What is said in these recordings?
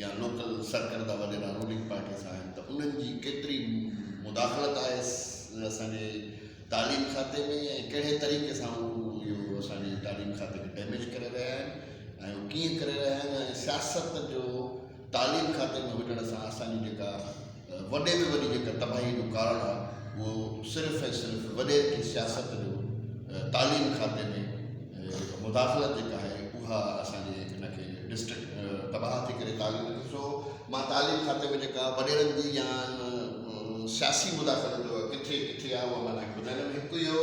يا لوڪل سرڪرده وڏيرا رولنگ پارٽي سان آهن ته انهن جي ڪيتري مداخلت آهي اسان جي تعليم کاتي ۾ ۽ ڪهڙي طريقي سان هو اهو اسان جي تعليم کاتي کي ڊيميج ڪري رهيا آهن ۽ هو ڪيئن ڪري رهيا آهن ۽ سياست جو تعليم کاتي ۾ هجڻ سان اسان جي جيڪا وڏي ۾ وڏي جيڪا تباهي جو ڪارڻ آهي اهو صرف ۽ صرف وڏيري جي سياست جو تعليم کاتي ۾ مداخلت جيڪا آهي اها اسان جي ان کي ڊسٽرڪٽ تباهه ٿي ڪري تعليم ڏسو مان تعليم کاتي ۾ جيڪا وڏيرن جي يا سياسي مداخلت جو ڪٿي ڪٿي آهي اهو مان تنهن کي ٻڌائيندم هڪ اهو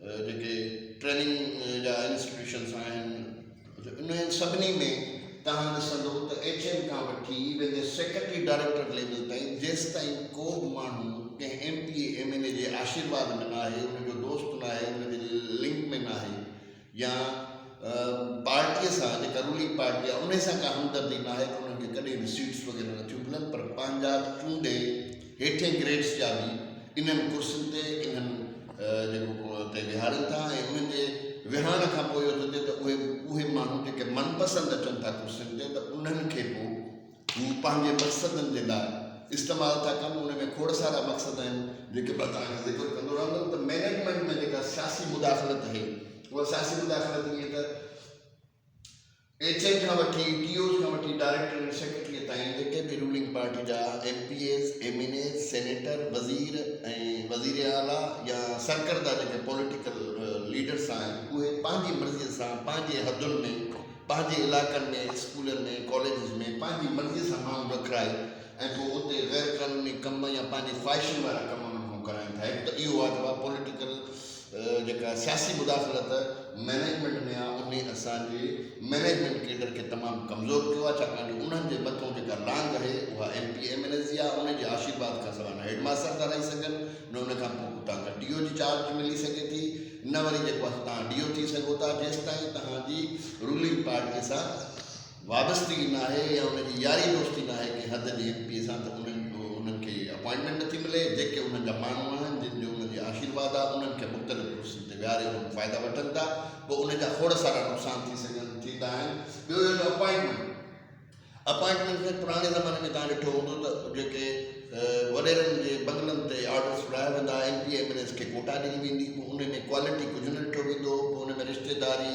جيڪي ٽريننگ جا انسٽيٽيوشنس آهن انهن سڀني ۾ توهان ڏسندو ته ايڇ ايم کان وٺي ايون جي سيڪريٽري ڊائريڪٽر ليول تائين جيستائين ڪو به ماڻهو ڪنهن ايم پي اي ايم اين اي جي آشيرواد ۾ ناهي ان جو دوست ناهي ان جي لنڪ ۾ ناهي يا پارٽي سان جيڪا رولنگ پارٽي آهي ان سان ڪا همدردي ناهي ته انهن کي ڪڏهن به سيٽس وغيره نٿيون ملن پر پنهنجا چونڊي هيٺين گريڊس جا به انهن ڪرسين تي انهن جيڪو تي ويهارين ٿا ۽ انهن جي ويهارڻ کان پوء اهو ٿو ٿئي ته اهي اهي ماڻهو جيڪي من پسند اچن ٿا ڪرسين تي ته انهن کي پوء هو پنهنجي مقصدن جي لاء استعمال ٿا ڪن ان ۾ کوڙ سارا مقصد آهن جيڪي مان توهان کي ذڪر ڪندو رهندم ته مينيجمينٽ ۾ جيڪا سياسي مداخلت آهي اها سياسي مداخلت ائين ته ايڇ ايم کان وٺي ٽي اوز کان وٺي ڊائريڪٽر ۽ سيڪريٽريء تائين جيڪي به رولنگ پارٽي جا MPAs, MNAs, senator, وزير ۽ وزير اعليٰ يا سرڪرده جيڪي پوليٽيڪل ليڊرس آهن اهي پنهنجي مرضيء سان پنهنجي حدن ۾ پنهنجي علائقن ۾ اسڪولن ۾ ڪاليجز ۾ پنهنجي مرضيء سان ماڻهو رکرائي ۽ پوء اتي غيرقانوني ڪم يا پنهنجي خواهشن وارا ڪم انهن کان ڪرائين ٿا هڪ ته اهو آ ته پوليٽيڪل جيڪا سياسي مداخلت مئنيجمينٽ ۾ آهي انهي اسان جي مئنيجمينٽ ڪيڊر کي تمام ڪمزور ڪيو آهي ڇاڪاڻ جو انهن جي مٿئون جيڪا لانگ آهي اها MP MNAs جي آهي انهي جي آشيرواد کان سواء نه هيڊماستر ٿا رهي سگهن نه ان کان پوء اتان کان ڊي او جي چارج ملي سگهي ٿي نه وري جيڪو آهي سو تهان ڊي او ٿي سگهو ٿا جيستائين تهان جي رولنگ پارٽي سان وابستگي ناهي يا ان جي ياري دوستي ناهي ڪنهن حد جي ايم پي اي سان ته انهن کي اپائنٽمينٽ نٿي ملي جيڪي انهن جا ماڻهو آهن جن جو انهن جي آشيرواد آهي انهن کي مختلف ڪرسين تي ويهاري انهن فائدا وٺن ٿا پوء انهن جا کوڙ سارا نقصان ٿي سگهن ٿيندا آهن ٻيو اهو جو اپائنٽمينٽ اپائنٽمينٽ ۾ پراڻي زماني ۾ تان ڏٺو هوندو ته جيڪي وڏيرن جي بنگلن تي آرڊرس وڙهايا ويندا MP MNAs کي ڪوٽا ڏني ويندي پوء ان ۾ ڪوالٽي ڪجهه نه ڏٺو ويندو پوء ان ۾ رشتيداري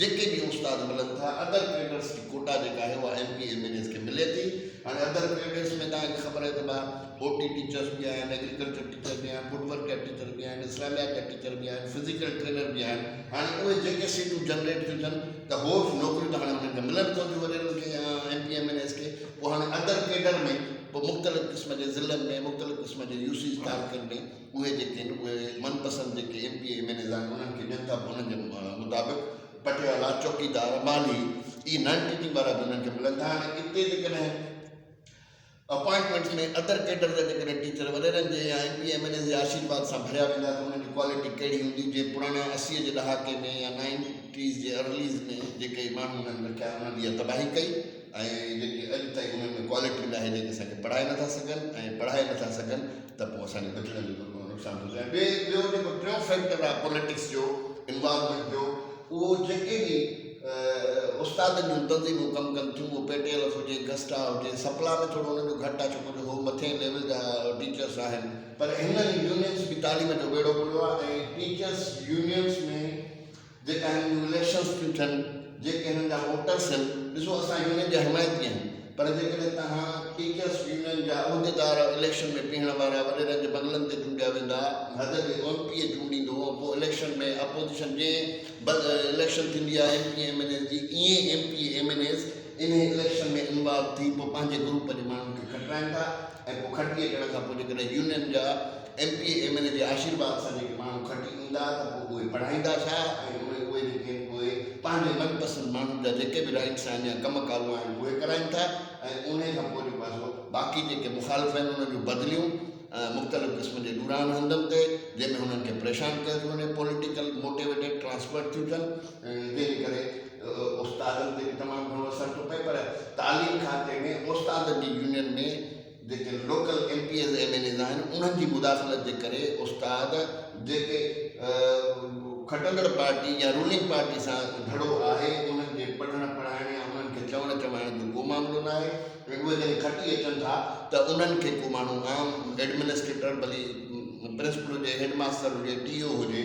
جيڪي به استاد ملن ٿا ادر ڪريڊٽس جي ڪوٽا جيڪا آهي اها MP MNAs کي ملي ٿي هاڻي ادر ڪريڊٽس ۾ توهان کي خبر آهي ته ڀا او ٽي ٽيچرس به آهن ايگريڪلچر ٽيچر به آهن فوڊ ورڪ جا ٽيچر به آهن اسلاميات جا ٽيچر به آهن فزيڪل ٽرينر به آهن هاڻي اهي جيڪي سيٽون جنريٽ ٿيون ٿين ته هو نوڪريون ته هاڻي انهن کي ملن پونديون وڏيرن کي يا M P MNAs کي پوء هاڻي ادر ڪيڊر ۾ پوء مختلف قسم جي ضلعن ۾ مختلف قسم جي يو سيز تعلقن ۾ اهي جيڪي آهن اهي من پسند جيڪي ايم پي اي ايم اين ايز آهن انهن کي ڏين ٿا به انهن جي مطابق پٽيوالا چوڪيدار مالهي اهي نان ٽيچنگ وارا به انهن کي ملن ٿا هاڻي اتي جيڪڏهن اپوائنٽمينٽس ۾ ادر ڪيڊر جا جيڪڏهن ٽيچر وڏيرن جي يا M P MNAs جي آشيرواد سان ڀريا ويندا ته انهن جي ڪوالٽي ڪهڙي هوندي جي پراڻي اسيء جي ڏهاڪي ۾ يا نائنٽيز جي ارليز ۾ جيڪي ماڻهن انهن رکيا انهن اها تباهي ڪئي ۽ جيڪي اڄ تائين انهن ۾ ڪوالٽي ناهي جيڪي اسان کي پڙهائي نٿا سگهن ۽ پڙهائي نٿا سگهن ته پوء اسان جي ٻچڙن جو ڪيترو نقصان ٿو ٿئي ۽ ٻي ٻيو جيڪو ٽيون فيڪٽر آهي پوليٽڪس جو انوالومينٽ جو اهو جيڪي به استادن جون تنظيمون ڪم ڪن ٿيون اهو پي ٽي ايل ايف هجي گسٽا هجي سپلا ۾ ٿورو انهن جو گهٽ آهي ڇوڪري هو مٿين ليول جا ٽيچرس آهن پر هنن يونينس به تعليم جو ٻيڙو ٻڙيو آهي ۽ ٽيچرس يونينس ۾ جيڪا هن جون اليڪشنز ٿيون ٿين، جيڪي هن جا ووٽرز هن، ڏسو اسان يونين جي حمايتي آهيون پر جيڪڏهن توهان ٽيچرز يونين جا عهديدار اليڪشن ۾ پيهڻ وارا وڏيرن جي بنگلن تي چونڊيا ويندا ۽ حد جي ايم پي اي چونڊيندو ۽ پوء اليڪشن ۾ اپوزيشن جنهن بس اليڪشن ٿيندي آهي ايم پي اي ايم اين ايز جي ائين ايم پي اي ايم اين ايز انهي اليڪشن ۾ انوالو ٿي پوء پنهنجي گروپ جي ماڻهن کي کٽرائين ٿا. ۽ پوء کٽي اچڻ کان پوء جيڪڏهن يونين جا ايم پي اي ايم اين اي جي آشيرواد سان جيڪي ماڻهو کٽي ايندا ته پوء اهي پڙهائيندا ڇا ۽ اهي اهي جيڪي آهن پوء پنهنجي من پسند ماڻهن جا جيڪي به رائٽس آهن يا ڪم ڪارون آهن اهي ڪرائين ٿا ۽ انهي کان پوء جيڪو آهي سو باقي جيڪي مخالف آهن انهن جون بدليون مختلف قسم جي ڏورانهن هنڌن تي جنهن ۾ هنن کي پريشان ڪيو ٿو وڃي پوليٽيڪل موٽيويٽيڊ ٽرانسفرڊ ٿيون ٿين جنهن جي ڪري استادن تي به تمام گهڻو اثر ٿو پئي پر تعليم کاتي ۾ استادن جي يونين ۾ جيڪي local MPAs MNAs آهن انهن جي مداخلت جي ڪري استاد جيڪي کٽندڙ پارٽي يا رولنگ پارٽي سان جھڙو آهي انهن جي پڙهڻ پڙهائڻ يا انهن کي چوڻ چوائڻ جو ڪو معاملو نه آهي ۽ اهي جڏهن کٽي اچن ٿا ته انهن کي ڪو ماڻهو عام ايڊمنسٽريٽر ڀلي پرنسپل هجي هيڊ ماستر هجي ٽي او هجي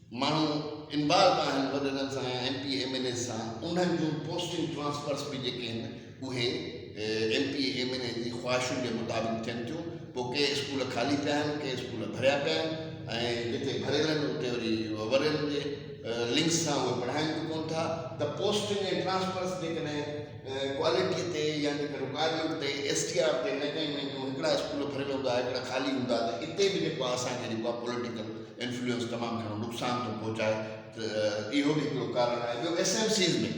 ماڻهو انوالو آهن وڏڙن سان يا ايم پي اي ايم اين ايز سان انهن جون پوسٽنگ ٽرانسفرس به جيڪي آهن اهي ايم پي اي ايم اين اي جي خواهشن جي مطابق ٿين ٿيون پوء ڪي اسڪول خالي پيا آهن ڪي اسڪول ڀريا پيا آهن ۽ جتي ڀريل آهن اتي وري وڏڙن جي لنڪس سان اهي پڙهائين به ڪون ٿا ته پوسٽنگ ۽ ٽرانسفرس جيڪڏهن ڪوالٽي تي يا جيڪڏهن رڪوائرمينٽ تي ايس ٽي آر تي نه ڪيون وينديون هڪڙا اسڪول ڀريل هوندا هڪڙا خالي هوندا ته اتي به جيڪو اسان کي جيڪو آهي پوليٽيڪل انفلوئنس تمام گهڻو نقصان ٿو پهچائي ته اهو به هڪڙو ڪارڻ آهي ٻيو ايس ايم سيز ۾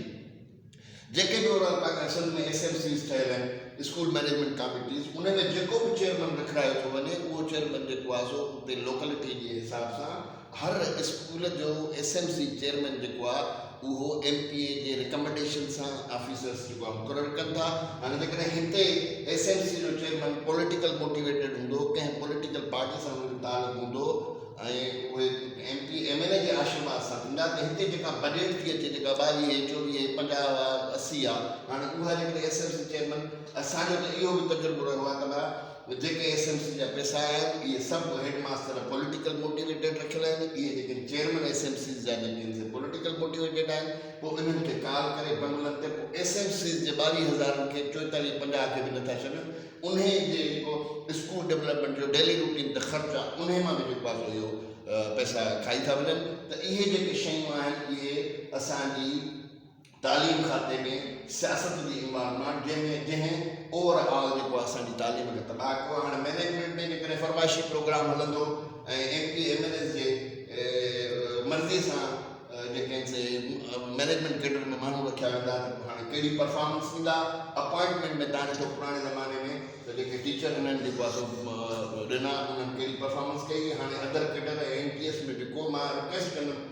جيڪي به overall Pakistan Sindh ۾ SMCs ٺهيل آهن اسڪول مئنيجمينٽ ڪاميٽيز ان ۾ جيڪو به چيئرمن رکرايو ٿو وڃي اهو چيئرمن جيڪو آهي سو اتي لوڪلٽي جي حساب سان هر اسڪول جو ايس ايم سي چيئرمن جيڪو آهي اهو ايم پي اي جي رڪمنڊيشن سان آفيسرز جيڪو آهي مقرر ڪن ٿا. هاڻي جيڪڏهن هتي ايس ايم سي جو چيئرمين پوليٽيڪل موٽيويٽيڊ هوندو، ڪنهن پوليٽيڪل پارٽي سان هن جو تعلق هوندو ۽ اهي ايم پي ايم اين اي جي آشرواد سان ٿيندا ته هتي جيڪا بجيٽ ٿي اچي جيڪا ٻاويهه، چوويهه، پنجاهه آهي، اسي آهي هاڻي اها جيڪڏهن ايس ايم سي چيئرمين اسان جو ته اهو به تجربو رهيو آهي ته جيڪي ايس ايم سي جا پئسا آيا آهن اهي سڀ هيڊ ماستر پوليٽيڪل موٽيويٽيڊ رکيل آهن اهي جيڪي چيئرمين ايس ايم سيز جا جيڪي آهن سي پوليٽيڪل موٽيويٽيڊ آهن پوء انهن کي ڪال ڪري بنگلن تي پوء ايس ايم سيز جي ٻاويهه هزارن کي چوئيتاليهه پنجاهه کي به نه ٿا ڇڏن انهي جي جيڪو اسڪول ڊيولپمينٽ جو ڊيلي روٽين تي خرچ آهي انهي مان به جيڪو آهي سو اهو پئسا کائي ٿا وڃن ته اهي جيڪي شيون آهن اهي اسان جي تعليم کاتي ۾ سياست جي امبار مان جنهن ۾ جنهن اوور آل جيڪو اسان جي تعليم کي تباهه ڪيو هاڻي مينيجمينٽ ۾ ان ڪري فرمائشي پروگرام هلندو ۽ MP MNAs جي مرضي سان جيڪي آهن سي مينيجمينٽ ڪيڊر ۾ ماڻهو رکيا ويندا ته پوء هاڻي ڪهڙي پرفارمنس ڏيندا اپوائنٽمينٽ ۾ تان ڏٺو پراڻي زماني ۾ ته جيڪي ٽيچر انهن جيڪو آهي سو ڏنا انهن ڪهڙي پرفارمنس ڪئي هاڻي other cadre M P S ۾ به ڪو مان رڪويسٽ ڪندم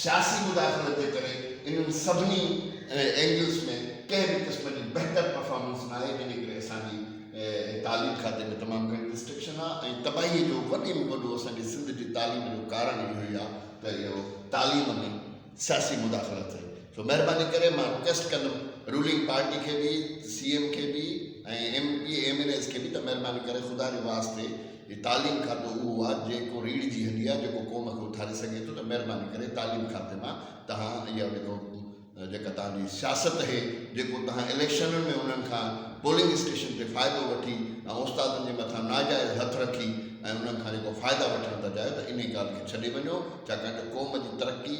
سياسي مداخلت جي ڪري انهن سڀني اينگلز ۾ ڪنهن به قسم جي بهتر پرفارمنس ناهي جنهن جي ڪري اسان جي تعليم کاتي ۾ تمام گهڻي رسٽرڪشن آهي ۽ تباهي جو وڏي ۾ وڏو اسان جي سنڌ جي تعليم جو ڪارڻ اهو ئي آهي ته اهو تعليم ۾ سياسي مداخلت آهي سو مهرباني ڪري مان رڪويسٽ ڪندم رولنگ پارٽي کي به سي ايم کي به ۽ MP MNAs کي به ته مهرباني ڪري خدا جي واسطي هي تعليم کاتو اهو آ جي ڪو ريڙهه جي هڏي آ جيڪو قوم کي اٿاري سگهي ٿو ته مهرباني ڪري تعليم کاتي مان تهان اها جيڪو جيڪا تهان جي سياست هي جيڪو تهان اليڪشنن ۾ انهن کان پولنگ اسٽيشن تي فائدو وٺي ۽ استادن جي مٿان ناجائز هٿ رکي ۽ انهن کان جيڪو فائدا وٺڻ ٿا چاهيو ته انهي ڳالهه کي ڇڏي وڃو ڇاڪاڻ جو قوم جي ترقي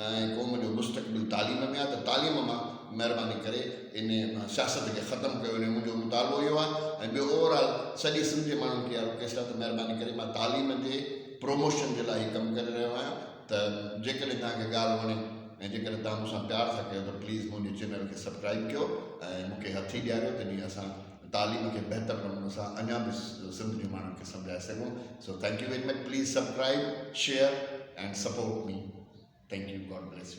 ۽ قوم جو مستقبل تعليم ۾ آهي ته تعليم مان مهرباني ڪري ان سياست کي ختم ڪيو وڃي منهنجو مطالبو اهو آهي ۽ ٻيو اوور آل سڄي سنڌ جي ماڻهن کي اها رڪويسٽ آهي ته مهرباني ڪري مان تعليم جي پروموشن جي لاء هي ڪم ڪري رهيو آهيان ته جيڪڏهن توهان کي ڳالهه وڻي ۽ جيڪڏهن توهان مون سان پيار ٿا ڪيو ته پليز منهنجي چينل کي سبڪرائيب ڪيو ۽ مون کي هٿي ڏياريو تنهنجي اسان تعليم کي بهتر نموني سان اڃا به سنڌ جي ماڻهن کي سمجهائي سگهون so thank you very much please subscribe share and support me thank you God bless U